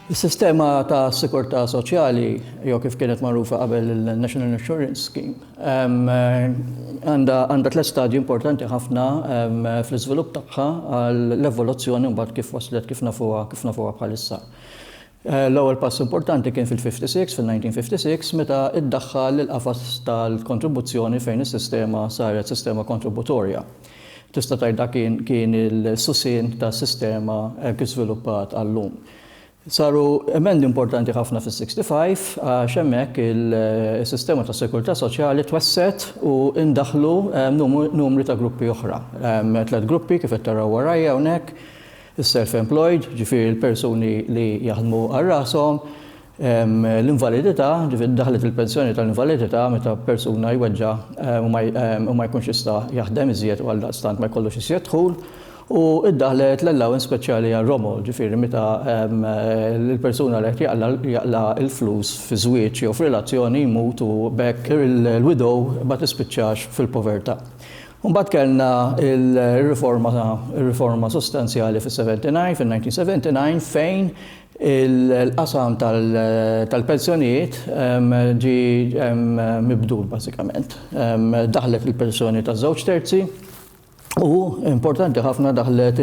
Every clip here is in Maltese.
Is-sistema ta' sikurtà soċjali, jew kif kienet magħrufa qabel il-National Insurance Scheme, għandha tliet stadji importanti ħafna fl-iżvilupp tagħha għall-evoluzzjoni mbagħad kif waslet kif nafuha kif nafuha bħalissa. L-ewwel pass importanti kien fil-56, fil-1956, meta iddaħħal il-qafas tal-kontribuzzjoni fejn is-sistema saret sistema kontributorja. Tista' tgħid dak kien kien il-susien tas-sistema hekk kif żviluppat għal-lum. Saru emendi importanti ħafna fis-65 għax hemmhekk is-sistema tas-sikurtà soċjali twessgħet u ndaħħlu numru ta' gruppi oħra. Tliet gruppi kif qed taraw warajja hawnhekk. is-self-employed, ġifieri l-persuni li jaħdmu għal rashom, l-invalidità, ġifieri daħlet il-pensjoni tal-invalidità meta persuna jweġġa' u ma jkunx jista' jaħdem iżjed u għaldaqstant ma jkollux iżjed dħul, u ddaħlet l-allowance speċjali għar-romol, ġifieri meta l-persuna li qed jaqla' l-flus fi żwieġ jew f'relazzjoni jmut u b'hekk il-widow ma tispiċċax fil-povertà. Imbagħad kellna r-riforma, ir-riforma sostanzjali fis-79, fin-1979, fejn il-qasam tal-pensjonijiet ġie mibdul bażikament. Daħlet il-pensjoni taż-żewġ terzi u, importanti ħafna, daħlet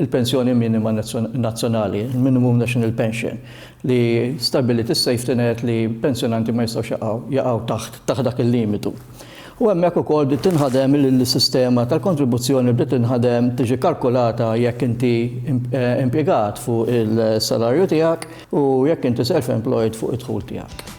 il-pensjoni minima nazzjonali, il-minimum national pension, li stabbiliet is-safety net li pensjonanti ma jistgħux jaqgħu taħt dak il-limitu. U hemmhekk ukoll bdiet tinħadem il-sistema tal-kontribuzzjoni bdiet tinħadem tiġi kalkulata jekk inti impjegat fuq il-salarju tiegħek u jekk inti self-employed fuq id-dħul tiegħek.